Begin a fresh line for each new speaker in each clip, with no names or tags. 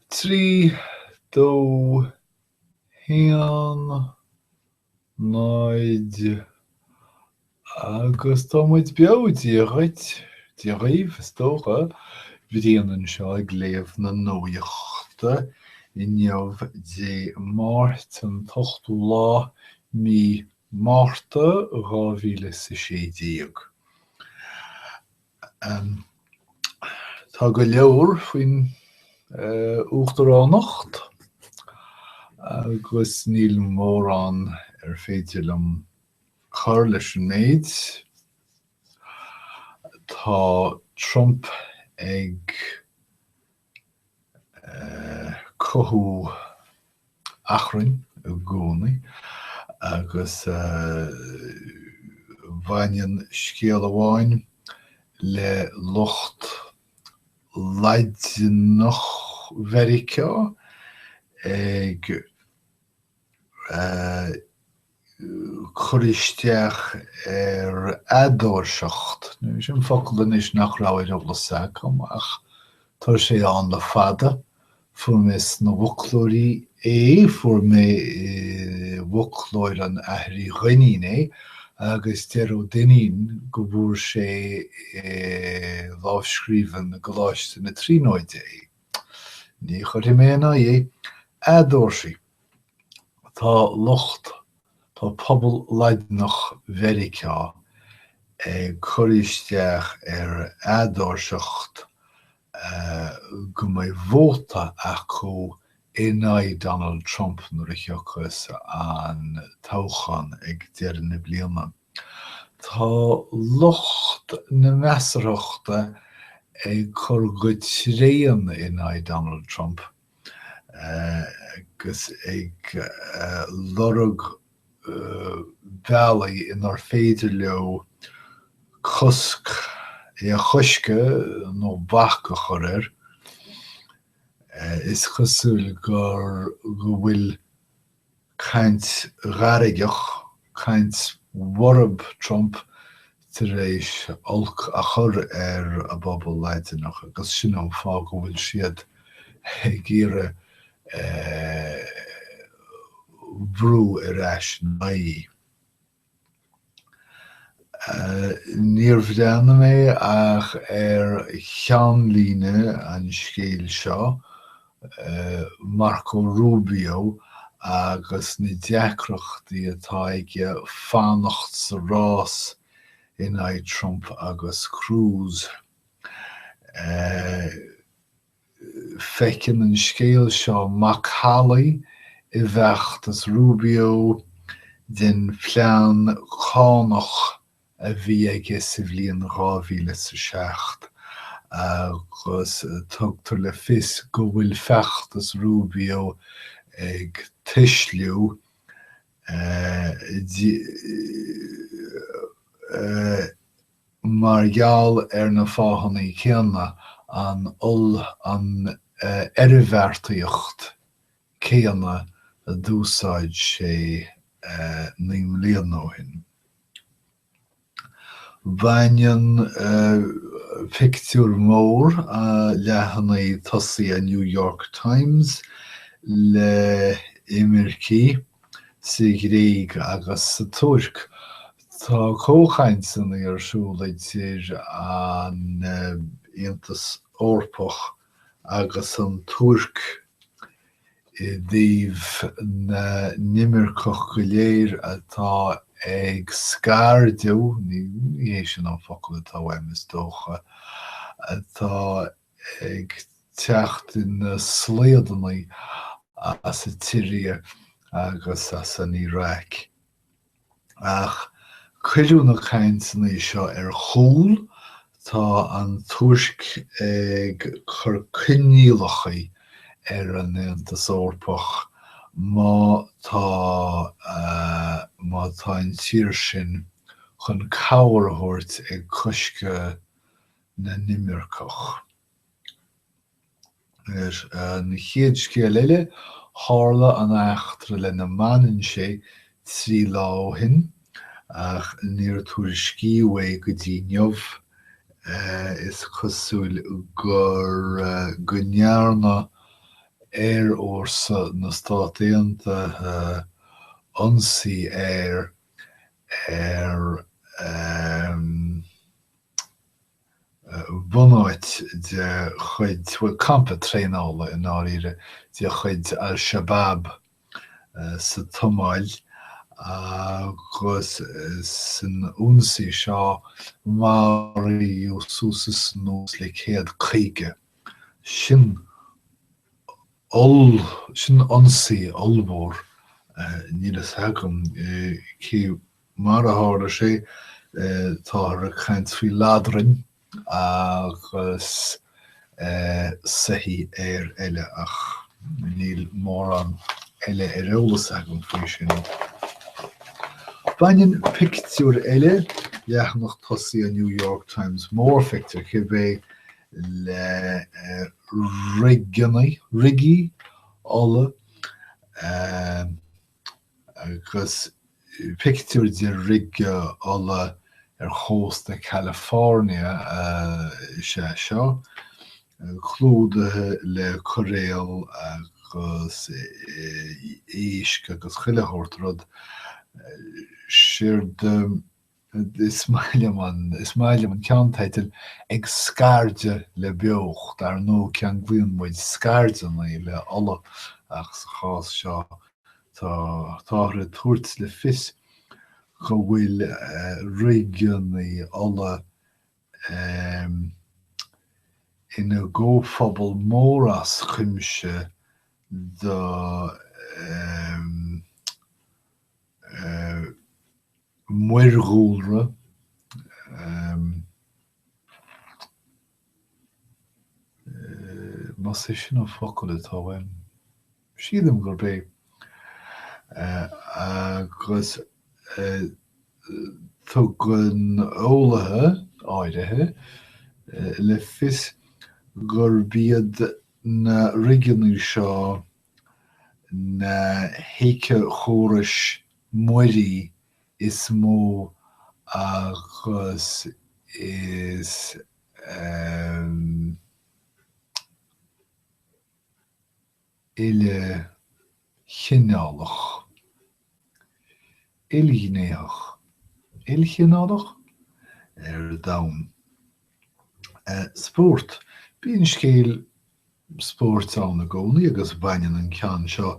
3, 2, 1, 0 agus tá muid beo, Dia dhuit, Dia dhaoibh is dócha, Brian anseo ag léamh na nuachta inniu Dé Máirt an t-ochtú lá mí Márta dhá mhíle is a sé déag. Tá go leor faoin uachtaránacht agus níl mórán ar féidir liom cur leis an méid. Tá Trump ag cothú achrainn i gcónaí agus baineann scéal amháin le lucht Laidineach Mheiriceá ag cur isteach ar eadóirseacht. Sin an focal anois nach raibh ar eolas agam, ach tá sé ann le fada. Fuair mé i bhfoclóirí é, fuair mé i bhfoclóir an Athar Uí Dhuinnín é, agus deir Ó Duinnín go bhfuair sé i lámhscríbhinn i gColáiste na Tríonóide é. Ní chuirfidh mé ina aghaidh. Eadóirsigh. Tá lucht, tá pobal Laidineach Mheiriceá ag cur isteach ar eadóirseacht go mbeidh vóta acu in aghaidh Donald Trump nuair a thiocfas an toghchán ag deireadh na bliana. Tá lucht na measarthachta ag cur go tréan in aghaidh Donald Trump. agus ag lorg bealaí inar féidir leo cosc, é a chosc nó bac a chur air. Is cosúil gur go bhfuil caint ghairgeach, caint bhorb Trump tar éis olc a chur ar an bpobal Laidineach agus sin an fáth go bhfuil siad ag iarraidh brú ar ais ina aghaidh. Níor bhreathnaigh mé ach ar cheannlíne an scéal seo, Marco Rubio agus na deacrachtaí atá aige fanacht sa rás in aghaidh Trump agus Cruz. Feiceann an scéal seo macallaí i bhfeachtas Rubio den phlean cánach a bhí aige sa bhliain 2000 is 07 agus tugtar le fios go bhfuil feachtas Rubio ag tuisliú mar gheall ar na fáthanna céanna, an, an oirbheartaíocht chéanna a d'úsáid sé naoi mbliana ó shin. Baineann pictiúr mór leathanaigh tosaigh an New York Times le himircigh. Sa Ghréig agus sa Tuirc, tá comhchainteanna ar siúl idir an Aontas Eorpach agus an Tuirc i dtaobh na n-imirceach go léir atá ag scairdeadh, ní hé sin an focal atá uaim, is dócha, atá ag teacht ina slaodanna as an tSiria agus as an Iraq. Ach cuireadh na cainteanna seo ar chúl, tá an Tuirc ag cur coinníollacha ar an Aontas Eorpach má tá má tá an tír sin chun cabhair a thabhairt ag cosc na n-imirceach. An chéad scéal eile, tharla an eachtra lena mbaineann sé trí lá ó shin ach níor tuairiscíodh é go dtí inniu. Is cosúil gur go ndearna aerfhórsa na Stát Aontaithe ionsaí aeir ar em bunáit de chuid, bhuel, campa traenála, i ndáiríre, de chuid al-Shabaab sa tSomáil agus san ionsaí seo maraíodh suas is anuas le céad caoga. Sin oll- sin ionsaí ollmhór, níl a fhios agam cé Mar a tharla sé, táthar ag caint faoi ladrainn agus soithí aeir eile, ach níl mórán eile ar eolas agam faoi sin. Baineann pictiúr eile, leathanach tosaigh an New York Times, mórphictiúr cibé, le rigí ola. Agus pictiúr de rige ola ar chósta Chalifornia is ea seo, clúdaithe le coiréal agus éisc agus chuile shórt rud. Séard. Is maith liom an, is maith liom an ceannteideal, Ag Scairdeadh le Beocht, dar ndóigh ceanglaíonn muid scairdeanna le ola ach sa chás seo tá táthar ag tabhairt le fios go bhfuil rigeanna ola ina gcomhphobal mór as cuimse do muirdhúlra, más é sin an focal atá uaim, sílim gurb é, agus tugann eolaithe áirithe le fios gurb iad na rigeanna seo Na héiceachórais mhuirí is mó agus is ilchineálach. Ilghnéitheach? Ilchineálach? Ar domhan. Spórt? Bíonn scéal spóirt ann i gcónaí agus baineann an ceann seo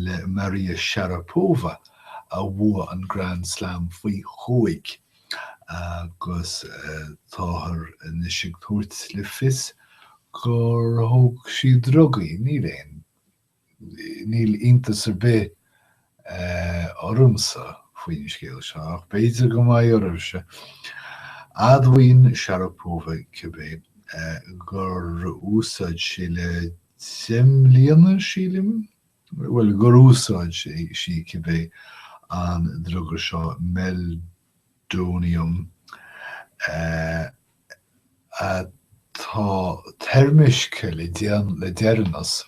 le Maria Sharapova a bhuaigh an Grand Slam faoi chúig agus táthar anois ag tabhairt le fios gur thóg sí drugaí. Níl aon. Níl iontas ar bith ormsa faoin scéal seo, ach b'fhéidir go mbeidh oraibhse. Admhaíonn Sharapova cibé gur úsáid sí le deich mbliana, sílim? bhuel, gur úsáid sí cibé an druga seo meldonium, Meldonium, atá toirmiscthe le deireanas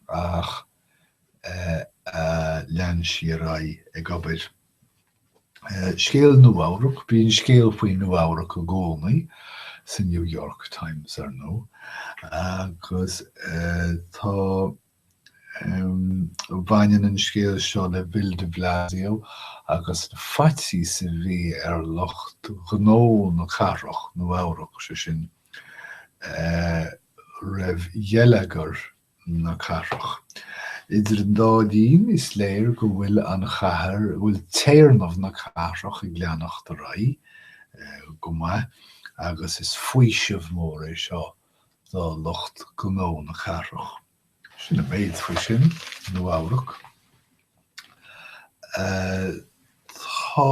ach a lean sí ar aghaidh ag obair. Scéal Nua-Eabhrac, bíonn scéal faoi Nua-Eabhrac i gcónaí sa New York Times, ar ndóigh, agus tá Baineann an scéal seo le Bill de Blasio agus an faitíos a bhí ar lucht gnó na cathrach, Nua-Eabhrac, sé sin, roimh gheilleagar na cathrach. Idir an dá linn, is léir go bhfuil an chathair, go bhfuil téarnamh na cathrach ag leanacht ar aghaidh go maith agus is faoiseamh mór é seo do lucht gnó na cathrach. Sin an méid faoi sin, Nua Eabhrac. Tá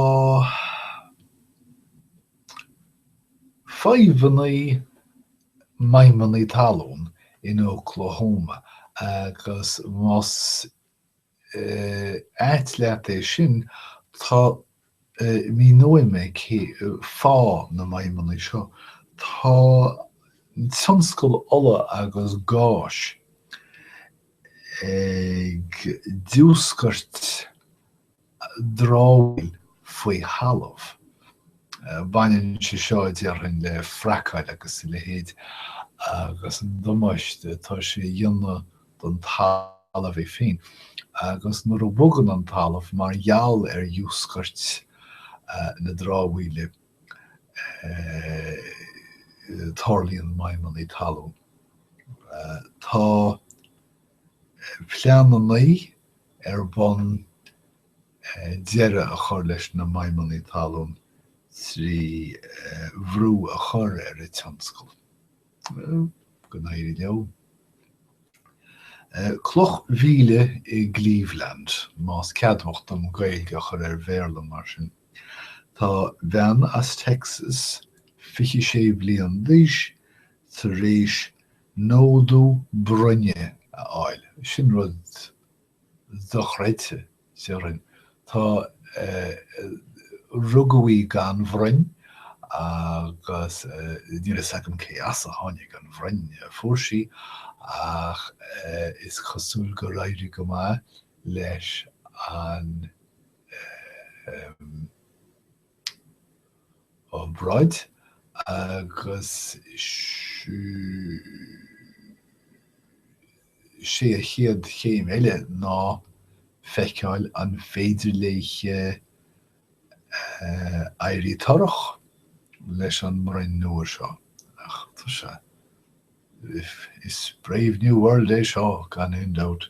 fadhbanna maidhmeanna talún in Oklahoma agus más ait leat é sin, tá, míneoidh mé cén fáth na maidhmeannaí seo, tá tionscal ola agus gáis ag diúscairt dramhaíl faoi thalamh. Baineann sé seo, déarfainn, le fracáil agus a leithéid agus an damáiste atá sé a dhéanamh don talamh é féin agus nuair a bhogann an talamh mar gheall ar dhiúscairt na dramhaíle tarlaíonn maidhmeanna talún. Tá pleananna ar bun deireadh a chur leis na maidhmeanna talún trí bhrú a chur ar an tionscal. Go n-éirí leo. Cloch mhíle i gCleveland, más ceadmhach dom Gaeilge a chur ar Bhéarla mar sin. Tá bean as Texas, 26 bliain d'aois, tar éis nódú broinne a fháil. Sin rud dochreidte, Ciarán, Tá, rugadh í gan bhroinn agus níl fhios agam cé as a tháinig an bhroinn a fuair sí ach is cosúil gur éirigh go maith leis an obráid agus 'Sé a chéad chéim eile ná feiceáil an féidir léi éirí torrach leis an mbroinn nua seo. Ach tá sé. Is Brave New World é seo, gan aon dabht.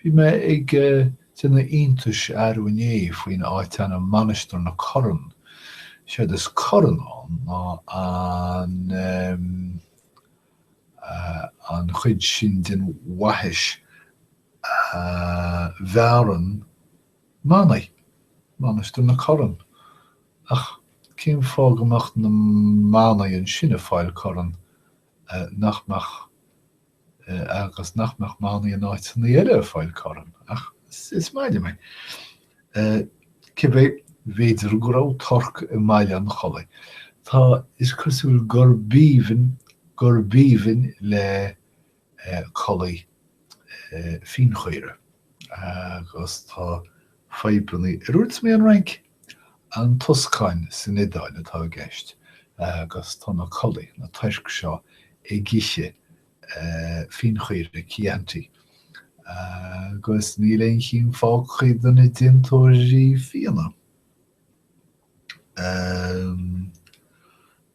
Bhí mé ag déanamh iontais arú inné faoin áitainm Mainistir na Corann. Séard is corann ann ná an em. an chuid sin den bhaithis a bhearrann manaigh. Mainistir na Corann. Ach cén fáth go mbeadh na manaigh ansin ag fáil corann nach mbeadh agus nach mbeadh manaigh in áiteanna eile ag fáil corann ach is maith liom é. Cibé, b'fhéidir go raibh torc i mBaile an Chollaigh. Tá, is cosúil gurb aoibhinn, gurb aoibhinn le collaigh fíonchaora agus tá fadhbanna ar dhúirt mé an Fhrainc? An Tuscáin san Iodáil atá i gceist agus tá na collaigh, na toirc seo ag ithe fíonchaora Chianti agus níl aon chinn fágtha do na déantóirí fíona. Ehm.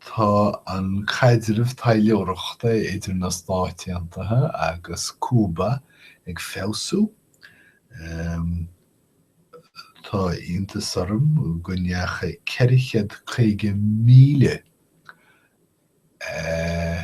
tá an caidreamh taidhleoireachta idir na Stáit Aontaithe agus Cúba ag feabhsú. Ehm. tá iontas orm go ndeachaigh ceithre chéad caoga míle. Eh.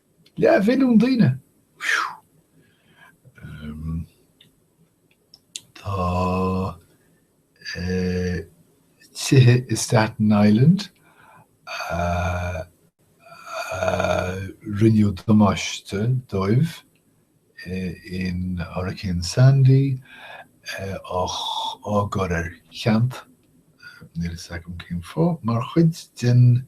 Leathmhilliún daoine? Fiú! Ehm. Tá eh, tithe i Staten Island a rinneadh damáiste dóibh eh, in Hurricane Sandy eh, á gcur ar ceant, níl a fhios agam cén fáth, mar chuid den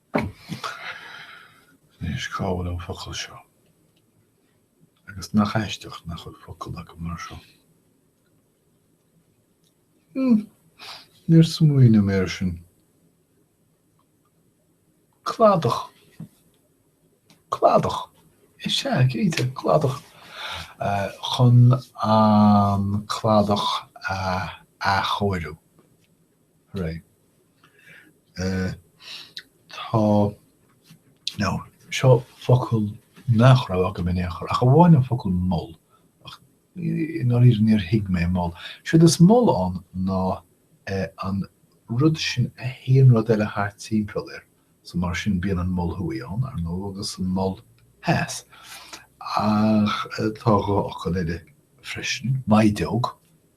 Anois cá bhfuil an focal seo? Agus nach aisteach nach bhfuil focal agam mar seo. Hm, níor smaoineadh mé ar sin. Cladach. Cladach. Is ea, cinnte, cladach. Chun an cladach a athchóiriú. Hooray. Tá, nó, seo focal nach raibh agam in aon chor, ach amháin an focal mol, ach i ndáiríre níor thuig mé mol. Siod is mol ann ná an rud sin a théann rud eile thart timpeall air, so mar sin bíonn an Mol Thuaidh ann, ar ndóigh, agus an Mol Theas. Ach tá dhá fhocal eile freisin, maighdeog.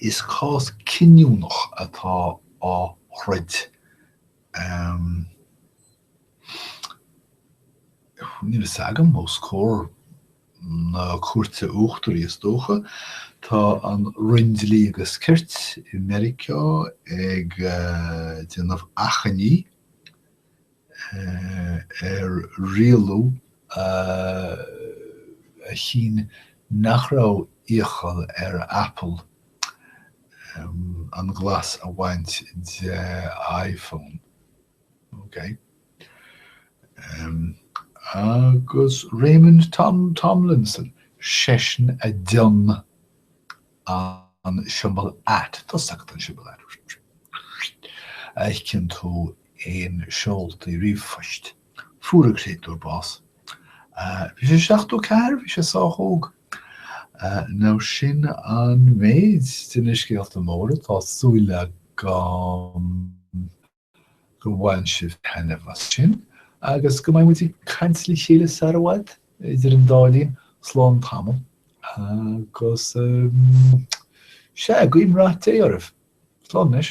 Is cás cinniúnach atá á throid, níl fhios agam, os comhair na Cúirte Uachtaraí is dócha. Tá an Roinn Dlí agus Cirt i Meiriceá ag déanamh achainí ar rialú a chinn nach raibh iachall ar Apple an glas a bhaint de iPhone. OK. Agus Raymond Tomlinson, seisean a d'fhionn an siombail at, tosaigh den siombail at, a fheiceann tú i seoltaí ríomhphoist. Fuair an créatúr bás. Bhí sé seachtó a ceathair, bhí sé sách óg. Nó sin an méid de na scéalta móra atá súil agam. go mbaineann sibh taitneamh as sin agus go mbeidh muid ag caint le chéile sara bhfad, idir an dá linn, slán tamall agus sea, guím rath Dé oraibh. Slán anois.